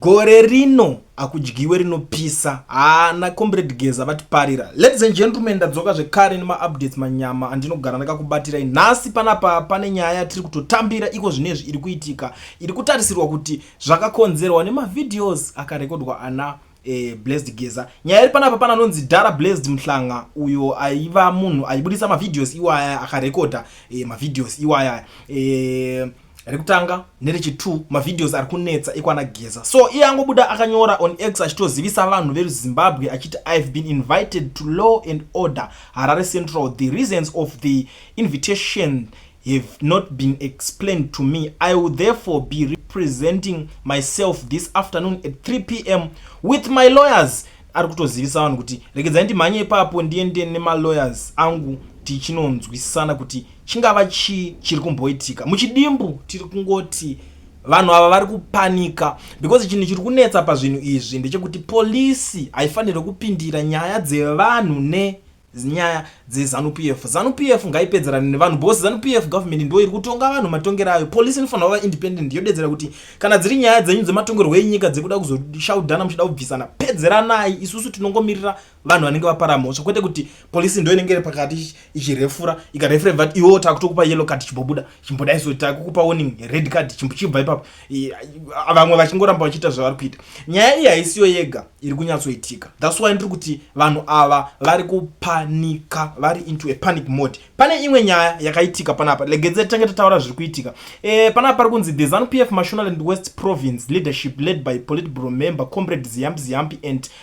Gore rino akudyiwe rinopisa haa na comrade Geza vatiparira. Ladies and gentlemen ndadzoka zvekare nema updates manyama andinogara ndakakubatirai. Nhasi panapa pane nyaya yatiri kutotambira iko zvinezvi iri kuitika iri kutarisirwa kuti zvakakonzerwa nema videos akarekodwa ana eh, Blessed Geza. Nyaya iri panapa pana anonzi Dara Blessed Mhlanga uyo aiva munhu aibudisa ma videos iwaya akarekoda eh, ma videos iwaya eh, rekutanga nerechitu mavideos ari kunetsa ekwana geza so iye angobuda akanyora on x achitozivisa vanhu veruzimbabwe achiti ihave been invited to law and order harare central the reasons of the invitation have not been explained to me i will therefore be representing myself this afternoon at 3 p m with my lawyers ari kutozivisa vanhu kuti regedzai ndimhanye ipapo ndiende nemalawyers angu tichinonzwisisana kuti chingava chii chiri kumboitika muchidimbu tiri kungoti vanhu ava vari kupanika because chinhu chiri kunetsa pazvinhu izvi ndechekuti polisi haifanirwe kupindira nyaya dzevanhu ne nyaya dzezanu p f zanu p f ngaipedzerane nevanhu bhosi zanu p f government ndo iri kutonga vanhu matongero ayo polisi inofanira kuva independent yodedzera kuti kana dziri nyaya dzenyu dzematongerwo enyika dzekuda kuzoshaudhana muchida kubvisana pedzeranai isusu tinongomirira vanhu vanenge vapara mhosva kwete kuti polisi ndo inenge iri pakati ichirefura ikarefura ibva ti iwo takutokupa yellow card chimbobuda chimboda isu takukupa warning red card chimbochibva ipapo vamwe vachingoramba vachiita zvavari kuita nyaya iyi haisiyo yega iri kunyatsoitika thats why ndiri kuti vanhu ava vari kupanika vari into a panic mode pane imwe nyaya yakaitika panapa legedze tange tataura zviri kuitika e, panapa pari kunzi the zanu p f mashonaland west province leadership led by politbro member comrade ziyampi ziyampi and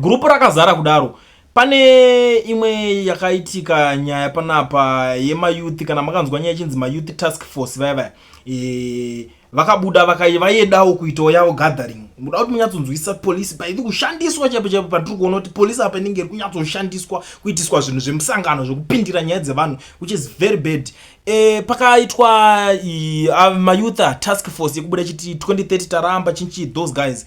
group rakazara kudaro pane imwe yakaitika nyaya panapa yemayouth kana makanzwa nyaya ichinzi mayouth task force vaya vaya e, vakabuda vayedawo kuitawo yavo gathering muda kuti munyatsonzwisisa polisi paivi kushandiswa chaipo chaipo patiri kuona kuti polisi apa inenge iri kunyatsoshandiswa kuitiswa zvinhu zvemusangano zvekupindira nyaya dzevanhu which is very bad e, pakaitwa mayouth task force yekubuda chiti 2030 taramba chinchi those guys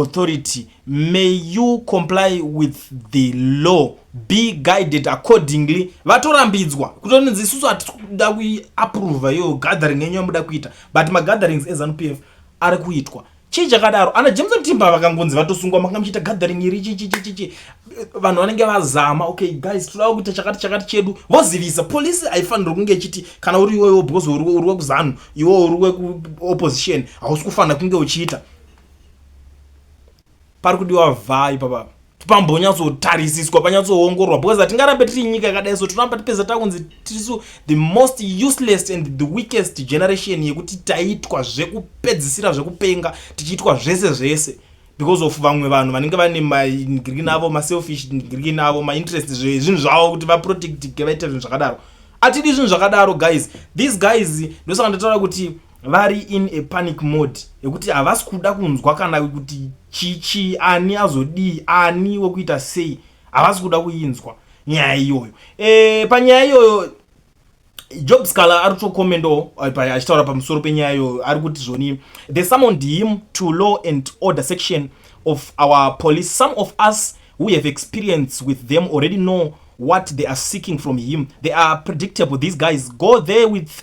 authority may you comply with the law be guided accordingly vatorambidzwa kutonzi isusu hatikuda kuaprova iyo gathering yenyu yamuda kuita but magatherings ezanup f ari kuitwa chii chakadaro ana james mtimba vakangonzi vatosungwa manga muchiita gathering iri chichichichichi vanhu vanenge vazama okay guys toda kuita chakati chakati chedu vozivisa polisi haifanirwe kunge ichiti kana uri iwewo because uri wekuzanu iwewo uri wekuopposition hausi kufanira kunge uchiita pari kudiwa vhai papa pambonyatsotarisiswa panyatsoongororwa because hatingarambe tiri nyika yakadai so tinoramba tipedza takunzi tirisu the most useless and the weakest generation yekuti taitwa zvekupedzisira zvekupenga tichiitwa zvese zvese because of vamwe vanhu vanenge vane magreen avo maselfish green avo mainterest zvinhu zvavo kuti vaprotectike vaite zvinhu zvakadaro atidi zvinhu zvakadaro guys these guys ndosaka ndataura kuti vari in a panic mode yekuti havasi kuda kunzwa kana kuti chichi ani azodii ani wekuita sei havasi kuda kuinzwa nyaya iyoyo e, panyaya iyoyo job scala ari kutokomendawo eh, achitaura pamusoro penyaya iyoyo ari kuti zvoni the summoned him to law and order section of our police some of us who have experience with them already know what they are seeking from him they are predictable these guys go there with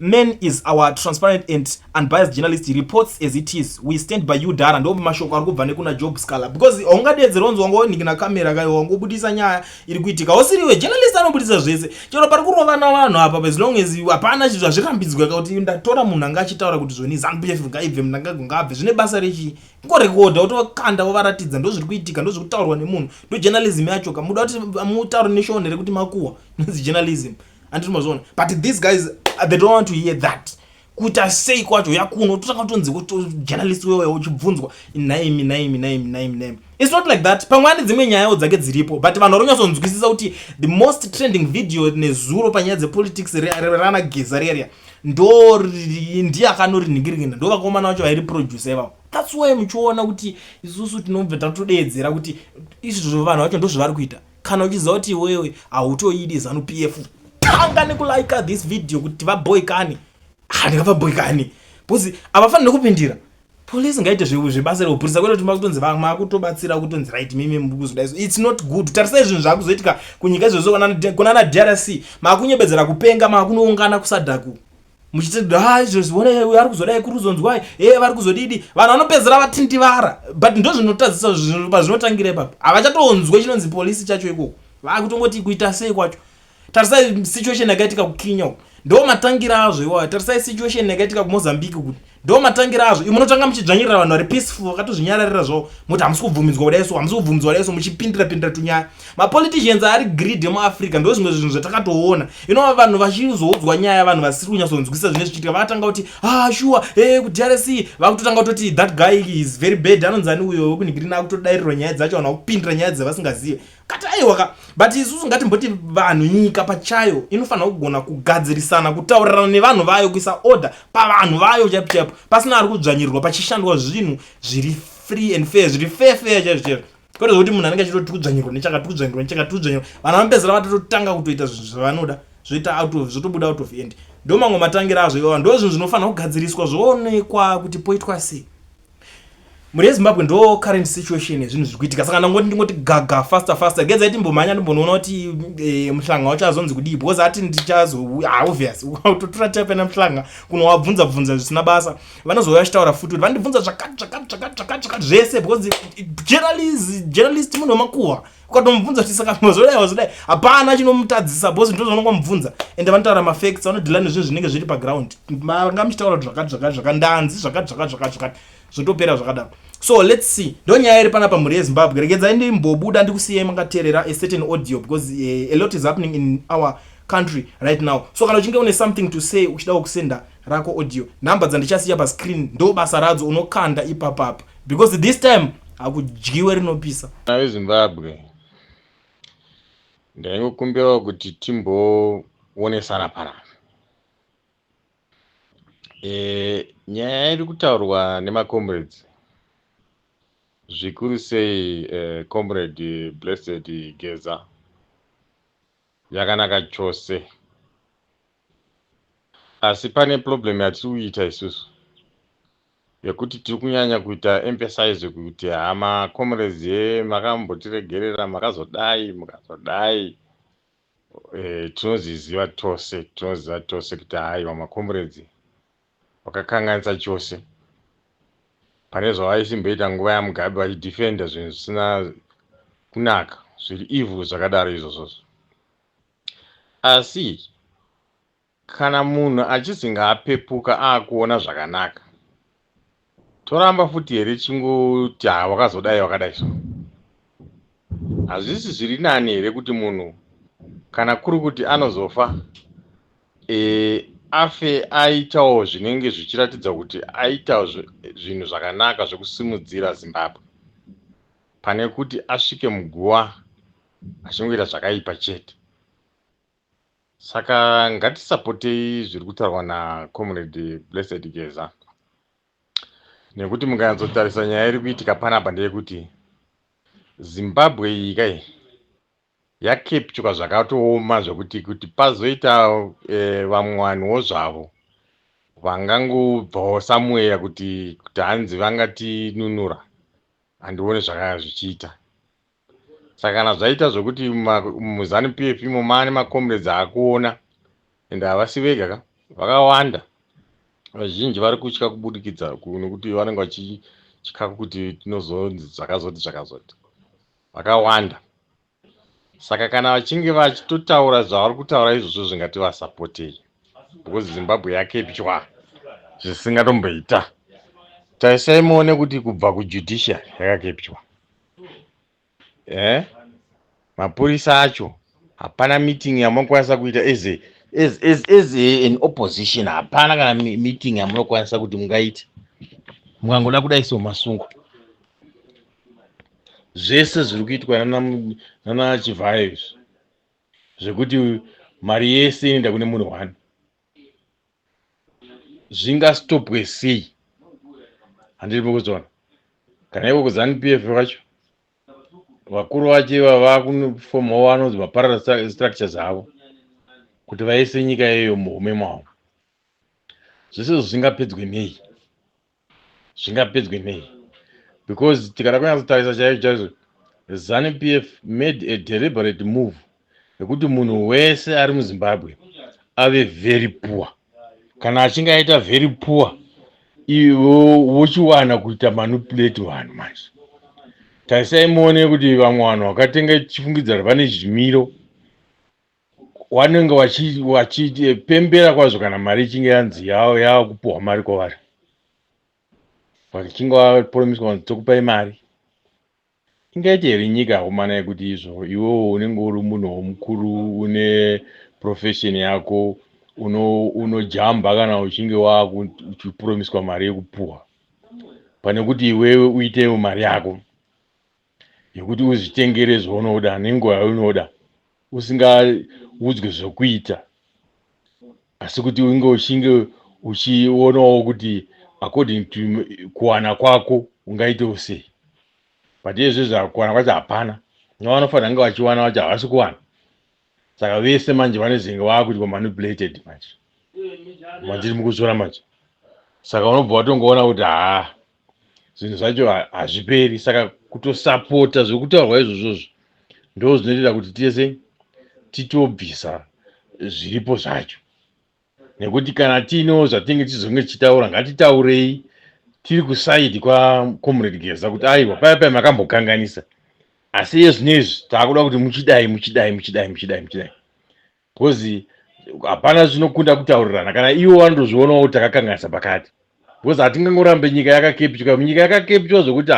Men is our transparent and unbiased journalist reports as it is we stand by you dara ndo mashoko ari kubva nekuna job scala because haungadeedzere onzi wanga wonhikina kamera kayo wanga ubudisa nyaya iri kuitika usiriwe journalist anobudisa zvese chero pari kurovana vanhu apa as long as hapana chinhu zvazvirambidzwa ka kuti ndatora munhu anga achitaura kuti zvoni zanupf ngaibve munhu anga gungabve zvine basa rechii kungorekodha wotokanda wovaratidza ndo zviri kuitika ndo zviri kutaurwa nemunhu ndo journalism yacho ka muda kuti mutaure neshone rekuti makuwa nozi journalism anditi mazviona but these guys uh, they don't want to hear that kuita sei kwacho yakuno totanga tonzi journalist wewe uchibvunzwa naimi naimi naimi naimi naimi its not like that pamwe ane dzimwe nyayawo dzake dziripo but vanhu varonyatsonzwisisa kuti the most trending video nezuro panyaya dzepolitics rana geza riya ndo ndiye akanoriningiringira ndo vakaomana vacho vairi producer ivavo that's why muchiona kuti isusu tinobva tatodeedzera kuti izvizvo vanhu vacho ndozvavari kuita kana uchiziva kuti iwewe hautoidi zanu p f tanga nekulika this video kuti vaboikani handingavaboikani bcause havafanire kupindira police ngaite zvebasa rekupurisa kwete kuti makutonzi makutobatsira kutonzi right mimi mukuzodaiso its not good tarisai zvinhu zvakuzoitika kunyika izvozvo kunana drc makunyebedzera kupenga makunoungana kusadaku muchiti ha izvozviona uyo ari kuzodai kuri kuzonzwai e vari kuzodidi vanhu vanopedzera vatindivara but ndo zvinotadzisa pazvinotangira ipapo havachatoonzwe chinonzi polisi chacho ikoko vakutongoti kuita sei kwacho tarisai situation yakaitika kukenya uku ndo matangira azvo iwayo tarisai situation yakaitika kumozambique kuti ndo matangira azvo imwe unotanga muchidzvanyirira vanhu vari peaceful vakatozvinyararira zvavo moti hamusi kubvumidzwa kudai so hamusi kubvumidzwa kudai so muchipindira pindira tunyaya mapoliticians ari greed emuafrica ndo zvimwe zvinhu zvatakatoona inova vanhu vachizoudzwa nyaya vanhu vasiri kunyatsonzwisisa zvine zvichiitika vakatanga kuti ah shuwa e eh, kudrc vakutotanga kutoti that guy is very bad anonzani uyo wekunigirina akutodairirwa nyaya dzacho vanhu vakupindira nyaya dzavasingazive kati aiwa ka but isusu ngatimboti vanhu nyika pachayo inofanira kugona kugadzirisana kutaurirana nevanhu vayo kuisa order pavanhu vayo chaipo chaipo pasina ari kudzvanyirirwa pachishandwa zvinhu zviri free and fair zviri fair fair chaizvo chaizvo kwete zvokuti munhu anenge achitoti tikudzvanyirwa nechakati tikudzvanyirwa nechakati tikudzvanyirwa vanhu vanopedzera vatototanga kutoita zvinhu zvavanoda zvoita out of zvotobuda out of end ndo mamwe matangira azvo ivava ndo zvinhu zvinofanira kugadziriswa zvoonekwa kuti poitwa sei mhuri yezimbabwe ndo current situation yezvinhu zviri kuitika saka ndangoti ndingoti gaga faster faster gedza iti mbomhanya ndimbonoona kuti e, muhlanga wacho azonzi kudii because ati ndichazo ah, obvious utotora tapena muhlanga kunowabvunza bvunza zvisina basa vanozouya vachitaura futi kuti vandibvunza zvakati zvakati zvakati zvakati zvakati zvese because journalist munhu wemakuhwa ukatomubvunza kuti saka mazodai wazodai hapana chinomutadzisa bhosi ndizvo zvaunongomubvunza ende vanotaura mafacts vanodhila nezvinhu zvinenge zviri paground manga muchitaura kuti zvakati zvakati zvakati ndanzi zvakati zvakati zvakati zvakati zvotopera zvakadaro so let's see ndo nyaya iri panapa mhuri yezimbabwe regedzai ndimbobuda ndikusiyai makateerera a certain audio because uh, a lot is happening in our country right now so kana uchinge une something to say uchidawo kusenda rako audio number dzandichasiya pascreen ndo basa radzo unokanda ipapapa because this time hakudyiwe rinopisa vana vezimbabwe ndaingokumbirawo kuti timboonesana panapa e, nyaya iri kutaurwa nemacomrades zvikuru sei e, comrade blessed geza yakanaka chose Asi pane problem yatiri kuita isusu yekuti tiri kunyanya kuita emphasize kuti haa macomrades ye makambotiregerera makazodai mukazodai eh, tinozviziva tose tinoziva tose kuti haiwa macomrades vakakanganisa chose pane zvavaisimboita nguva yamugabe vachidefenda zvinhu zvisina kunaka zviri evil zvakadaro izvozvozvo Asi kana munhu achizi ngaapepuka akuona zvakanaka toramba futi here chingoti haa wakazodai wakadai so hazvisi zviri nani here kuti munhu kana kuri kuti anozofa e, afe aitawo zvinenge zvichiratidza kuti aita zvinhu zvakanaka zvekusimudzira zimbabwe pane kuti asvike muguva achingoita zvakaipa chete saka ngatisapotei zviri kutaurwa nacomrade blessed geza nekuti mukanyatsotarisa nyaya iri kuitika panapa ndeyekuti zimbabwe iyi kai yakepchuka zvakatooma zvekuti kuti pazoita eh, vamwe vanhuwo zvavo vangangobvawo samweya kuti kuti hanzi vangatinunura handione zvakaya zvichiita saka kana zvaita zvekuti muzanu pf imo mane macomrades akuona and havasi vega ka vakawanda vazhinji vari kutya kubudikidza nekuti vanenge vachitya kuti tinozonzi zvakazoti zvakazoti vakawanda saka kana vachinge vachitotaura zvavari kutaura izvozvo zvingati vasapotei because zimbabwe yakepywa zvisingatomboita tarisai muone kuti kubva kujudiciary yakakepywa eh mapurisa acho hapana meeting yamunokwanisa kuita as a as as as a, an opposition hapana kana mi- meeting yamunokwanisa kuti mungaite mukangoda kudai so masungo zvese zviri kuitwa nana mu- nana chivhayo izvi zvekuti mari yese inoenda kune munhu one zvingastopwe sei handiri mukuzoona kana ivo kuzanu p f vacho vakuru vacho iva vakunofomawo vanonzi maparara structures avo kuti vaise nyika yeyo muhume mwavo zvese izvo zvingapedzwe nei zvingapedzwe nei because tikada kunyatsotarisa chaizvo chaizvo zanu p f made a deliberate move yekuti munhu wese ari muzimbabwe ave very poor kana achinge aita very poor ivo vochiwana kuita manipulate vanhu manje tarisai muone kuti vamwe vanhu vakatenga chifungidzaro vane zvimiro wanenge wachi- wachipembera kwazvo kana mari ichinge yanzi yava yava kupuhwa mari kwavari vachinge vapromiswa kuti tokupai mari ingaite here nyika yakomana yekuti izvo iwewo unenge uri munhuwo mukuru une profession yako uno- unojamba kana uchinge waku- uchipromiswa mari yekupuhwa pane kuti iwewe uitewo mari yako yekuti uzvitengere zvaunoda nenguva yaunoda usingaudzwe zvokuita asi kuti unge uchinge uchionawo kuti according to kuwana kwako ungaitewo sei but izvezvi zvakuwana kwacho hapana navanofanira kunge vachiwana vacho havasi kuwana saka vese manje vanezenge vakuitwa manipulated manje manziri mukuzora manje saka unobva watongoona kuti haa zvinhu zvacho hazviperi saka kutosapota zvekutaurwa izvozvozvo ndo zvinoitira kuti tese titobvisa zviripo zvacho nekuti kana tiinewo zvatinenge tichizonge tichitaura ngatitaurei tiri kusaidi kwacomrade geza kuti aiwa paya paya makambokanganisa asi iye zvino izvi taakuda kuti muchidai muchidai muchidai muchidai muchidai bcause hapana zvinokunda kutaurirana kana iwo vanotozvionawo kuti takakanganisa pakati bcause hatingangorambe nyika yakakepitwa nyika yakakepitwa zvokuti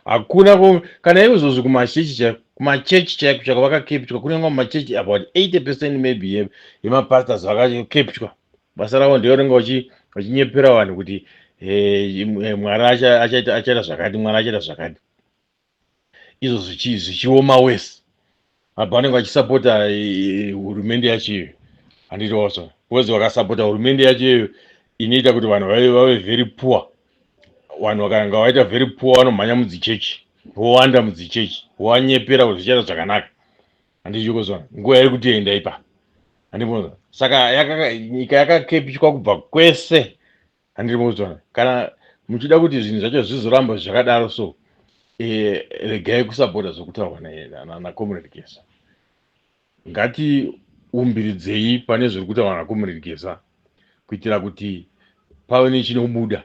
hakuna kana ivo zvozi kumachechi chaiko kumachechi chaiko chako vakakepitwa kune vamwe machechi about 80 percent maybe yemapastors vakakepitwa basa ravo ndeorenga vachinyepera vanhu kuti eh, eh, mwari achaita zvakati mwari achaita zvakati izvo zvichi- zvichioma worse apa vanenge vachisapota eh, hurumende yacho iyoyo handiti watsva because vakasapota hurumende yacho iyoyo inoita kuti vanhu vave vave very poor vanhu vakanga vaita very poor vanomhanya mudzichechi vowanda mudzichechi wanyepera kuti zvichaita zvakanaka handichikuzona nguva iri kutienda ipa handibonza saka yakaka- nyika yakakepchwa kubva kwese handiri mozvana kana muchida kuti zvinhu zvacho zvizoramba zvakadaro so eh, regai kusabhoda zvokutaurwa nakomrade gesa ngatiumbiridzei pane zviri kutaurwa nakomrade gesa kuitira kuti pave nechinobuda